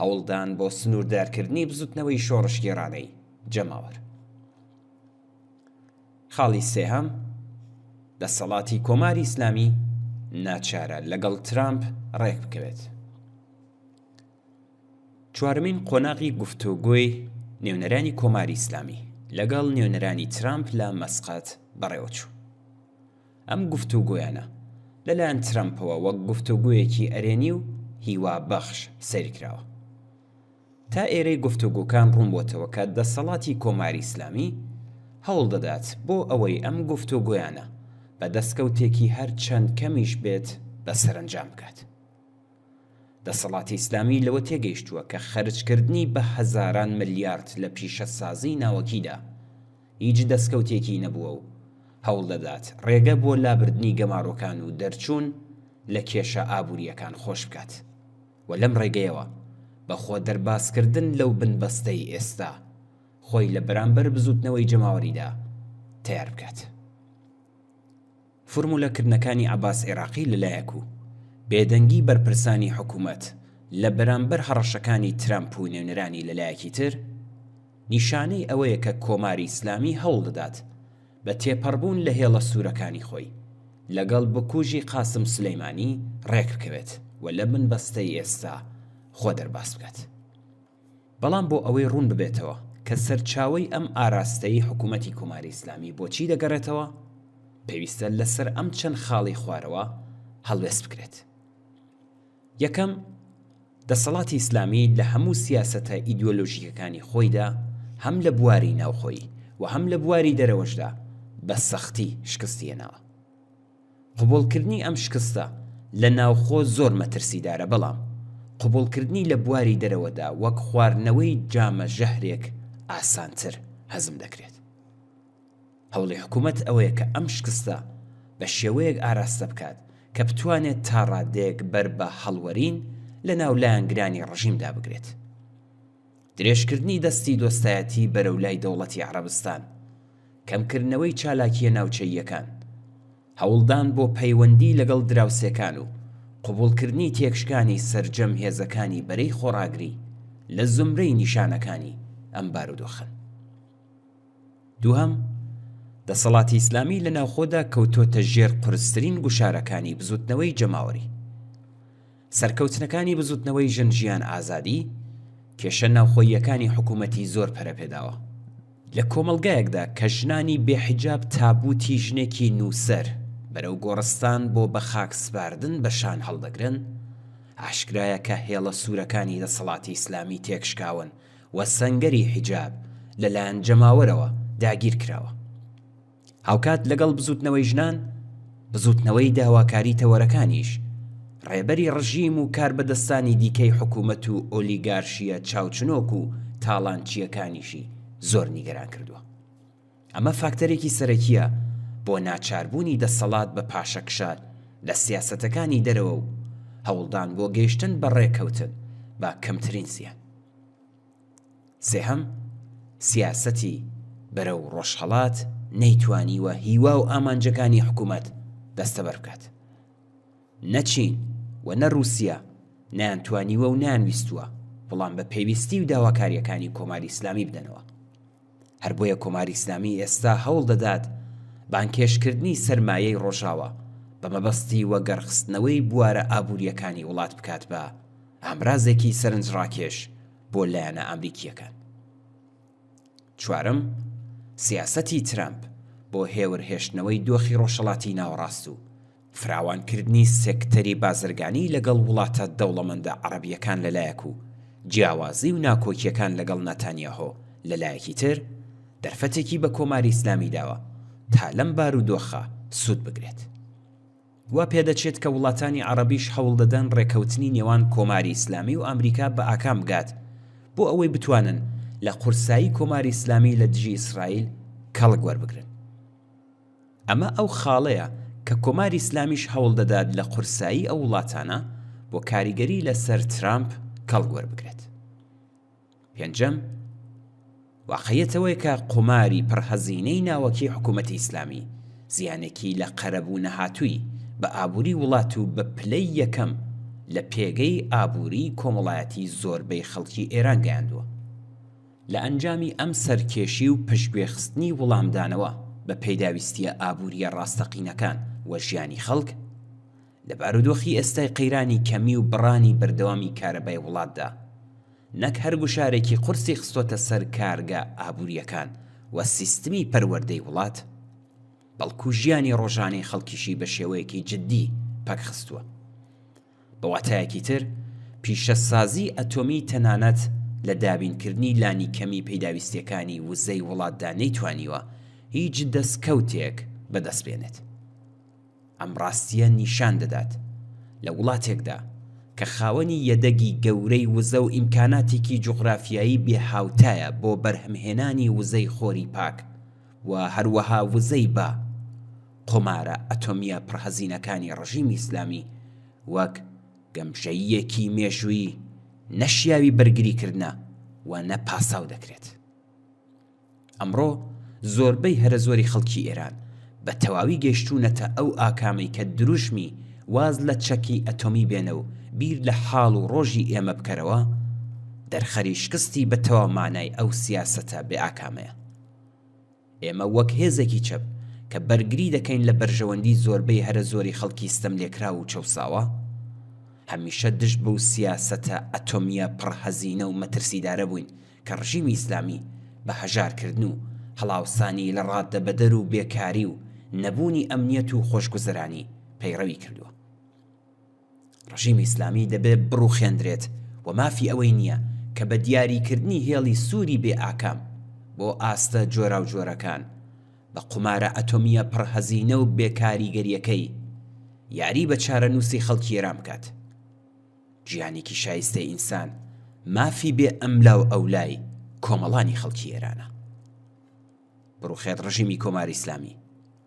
هەوڵدان بۆ سنووردارکردنی بزوتنەوەی شۆڕشگێڕانەی جەماوەر. خاڵی سێهەم، دەسەڵاتی کۆماری ئیسلامی ناچارە لەگەڵ ترامپ ڕێکبکەوێت. چوارەمین قۆناغی گفتۆگۆی نێونەرانی کۆماری ئیسلامی لەگەڵ نێونەرانی ترامپ لە مەسقەت بەڕێوەچوو. ئەم گفتوگۆیانە لەلایەن ترەمپەوە وەک گفتوگۆیەکی ئەرێنی و هیوابەخش سەیرکراوە. تا ئێرەی گفتوگۆکان ڕوونبۆتەوە کە دەسەڵاتی کۆماری ئیسلامی هەوڵدەدات بۆ ئەوەی ئەم گفتوگۆیانە بە دەستکەوتێکی هەرچەند کەمیش بێت بە سەرەنجام بگات. دەسەڵاتی ئیسلامی لەوە تێگەیشتووە کە خەرجکردنی بە هەزاران ملیارد لە پیشەسازیی ناوەکیدا هیچ دەستکەوتێکی نەبووە و هەوڵ دەدات ڕێگە بۆ لابردنی گەمارۆکان و دەرچوون لە کێشە ئابوورییەکان خۆش بکات و لەم ڕێگەیەوە بە خۆ دەربازکردن لەو بنبەستەی ئێستا خۆی لە بەرامبەر بزووتنەوەی جەماوەریدا تەیار بکات. فورمولە کردنەکانی عەباس عێراقی لەلایەک و بێدەنگی بەرپرسانی حکومەت لە بەرامبەر هەڕەشەکانی ترەمپ و نوێنەرانی لەلایەکی تر، نیشانەی ئەوەیە کە کۆماری ئیسلامی هەوڵدەدات بە تێپەڕبوون لە هێڵە سوورەکانی خۆی لەگەڵ بکوژی قاسم سولەیمانی ڕێکبکەوێت و لە بنبەستەی ئێستا خۆ دەرباز بکات. بەڵام بۆ ئەوەی ڕوون ببێتەوە کە سەرچاوەی ئەم ئاراستەی حکوومەتی کۆماری ئیسلامی بۆ چی دەگەڕێتەوە، پێویستە لە سەر ئەم چەند خاڵی خوارەوە هەڵوێست بکرێت. یەکەم، دەسەڵاتی ئیسلامی لە هەموو سیاسەتە ئیدۆلۆژیکەکانی خۆیدا هەم لە بواری ناوخۆیی و هەم لە بواری دەرەوەشدا بە سەختی شکستی هێناوە. قبوڵکردنی ئەم شکستە لە ناوخۆ زۆر مەترسیدارە، بەڵام قبوڵکردنی لە بواری دەرەوەدا وەک خواردنەوەی جامە ژەهرێک ئاسانتر هەزم دەکرێت. هەوڵی حکومەت ئەوەیە کە ئەم شکستە بە شێوەیەک ئاراستە بکات کە بتوانێت تا ڕادەیەک بەر بە هەڵوەرین لە ناو لایەنگرانی ڕژیمدا بگرێت. درێژکردنی دەستی دۆستایەتی بەرەو لای دەوڵەتی عەڕەبستان، کەمکردنەوەی چالاکییە ناوچەییەکان، هەوڵدان بۆ پەیوەندی لەگەڵ دراوسێکان و قبوڵکردنی تێکشکانی سەرجەم هێزەکانی بەرەی خۆڕاگری لە زومرەی نیشانەکانی ئەم بارودۆخەن. دووهەم، دەسەڵاتی ئیسلامی لە ناوخۆدا کەوتۆتە ژێر قورسترین گوشارەکانی بزوتنەوەی جەماوەری. سەرکەوتنەکانی بزوتنەوەی ژن ژیان ئازادی، کێشە ناوخۆییەکانی حکومەتی زۆر پەرە پێداوە. لە کۆمەڵگایەکدا کە ژنانی بێ حیجاب تابوتی ژنێکی نوسەر بەرەو گۆڕستان بۆ بە خاک سپاردن بە شان هەڵدەگرن، ئاشکرایە کە هێڵە سورەکانی دەسەڵاتی ئیسلامی تێکشکاون و سەنگەری حیجاب لە لایەن جەماوەرەوە داگیر کراوە. هاوکات لەگەڵ بزوتنەوەی ژنان، بزوتنەوەی داواکاری تەوەرەکانیش، ڕێبەری ڕژیم و کاربەدەستانی دیکەی حکومەت و ئۆلیگارشییە چاوچنۆک و تاڵانچییەکانیشی زۆر نیگەران کردووە. ئەمە فاکتەرێکی سەرەکییە بۆ ناچاربوونی دەسەڵات بە پاشەکشە لە سیاسەتەکانی دەرەوە و هەوڵدان بۆ گەیشتن بە ڕێککەوتن بە کەمترین زیان. سێهەم، سیاسەتی بەرەو ڕۆژهەڵات نەیتوانیوە هیوا و ئامانجەکانی حکوومەت دەستەبەر بکات. نە چین و نە ڕووسیە نەیانتوانیوە و نەیانویستووە وڵام بە پێویستی و داواکارییەکانی کۆماری ئیسلامی بدەنەوە. هەر بۆیە کۆماری ئیسلامی ئێستا هەوڵ دەدات بانگهێشتکردنی سەرمایەی ڕۆژاوا بە مەبەستی وەگەڕخستنەوەی بوارە ئابوورییەکانی وڵات بکات بە ئامرازێکی سەرنجڕاکێش بۆ لایەنە ئامریکییەکان. چوارەم، سیاسەتی ترەمپ بۆ هێورههێشتنەوەی دۆخی ڕۆژهەڵاتی ناوەڕاست و فراوانکردنی سێکتەری بازرگانی لەگەڵ وڵاتە دەوڵەمەندە عەڕەبییەکان لە لایەک و جیاوازی و ناکۆکییەکان لەگەڵ ناتانیاهۆ لە لایەکی تر، دەرفەتێکی بە کۆماری ئیسلامی داوە تا لەم بارودۆخە سوود بگرێت. وا پێدەچێت کە وڵاتانی عەڕەبیش هەوڵ دەدەن ڕێککەوتنی نێوان کۆماری ئیسلامی و ئامریکا بە ئاکام بگات بۆ ئەوەی بتوانن لە قورسایی کۆماری ئیسلامی لە دژی ئیسرائیل کەڵک وەربگرن. ئەمە ئەو خاڵەیە کە کۆماری ئیسلامیش هەوڵ دەدات لە قورسایی ئەو وڵاتانە بۆ کاریگەری لە سەر ترامپ کەڵک وەربگرێت. پێنجەم، واقعیەت ئەوەیە کە قوماری پڕ هەزینەی ناوەکی حکوومەتی ئیسلامی زیانێکی لە قەرەبوو نەهاتووی بە ئابووری وڵات و بە پلەی یەکەم لە پێگەی ئابووری کۆمەڵایەتی زۆربەی خەڵکی ئێران گەیاندووە. لە ئەنجامی ئەم سەرکێشی و پشتگوێخستنی وڵامدانەوە بە پێداویستییە ئابوورییە ڕاستەقینەکان و ژیانی خەڵک، لە بارودۆخی ئێستای قەیرانی کەمی و بڕانی بەردەوامی کارەبای وڵاتدا، نەک هەر گوشارێکی قورسی خستۆتە سەر کارگە ئابوورییەکان و سیستمی پەروەردەی وڵات، بەڵکو ژیانی ڕۆژانەی خەڵکیشی بە شێوەیەکی جددی پەکخستووە. بە واتایەکی تر، پیشەسازیی ئەتۆمی تەنانەت لە دابینکردنی لانیکەمی پیداویستییەکانی وزەی وڵاتدا نەیتوانیوە هیچ دەستکەوتێک بەدەست بێنێت. ئەم ڕاستییە نیشان دەدات، لە وڵاتێکدا کە خاوەنی یەدەگی گەورەی وزە و ئیمکاناتێکی جوغرافیایی بێهاوتایە بۆ بەرهەمهێنانی وزەی خۆری پاک و هەروەها وزەی با، قومارە ئەتۆمییە پڕهەزینەکانی ڕژیمی ئیسلامی وەک گەمژەییەکی مێژوویی نە شیاوی بەرگری کردنە و نە پاساو دەکرێت. ئەمڕۆ زۆربەی هەرە زۆری خەڵکی ئێران بە تەواوی گەیشتوونەتە ئەو ئاکامەی کە دروشمی واز لە چەکی ئەتۆمی بێنە و بیر لە حاڵ و ڕۆژی ئێمە بکەرەوە دەرخەری شکستی بە تەواو مانای ئەو سیاسەتە بێ ئاکامەیە. ئێمە وەک هێزێکی چەپ کە بەرگری دەکەین لە بەرژەوەندی زۆربەی هەرە زۆری خەڵکی ستەملێکراو و چەوساوە، هەمیشە دژ بەو سیاسەتە ئەتۆمییە پڕ هەزینە و مەترسیدارە بووین کە ڕژیمی ئیسلامی بە هەژارکردن و هەڵاوسانی لە ڕاددەبەدەر و بێکاری و نەبوونی ئەمنیەت و خۆشگوزەرانی پەیڕەوی کردووە. ڕژیمی ئیسلامی دەبێت بڕوخێندرێت و مافی ئەوەی نییە کە بە دیاریکردنی هێڵی سووری بێ ئاکام بۆ ئاستە جۆراوجۆرەکان، بە قومارە ئەتۆمییە پڕهەزینە و بێ کاریگەرییەکەی، یاری بە چارەنووسی خەڵکی ئێران بکات. گیانێکی شایستەی ئینسان مافی بێ ئەملاوئەولای کۆمەڵانی خەڵکی ئێرانە. بڕوخێت ڕژیمی کۆماری ئیسلامی،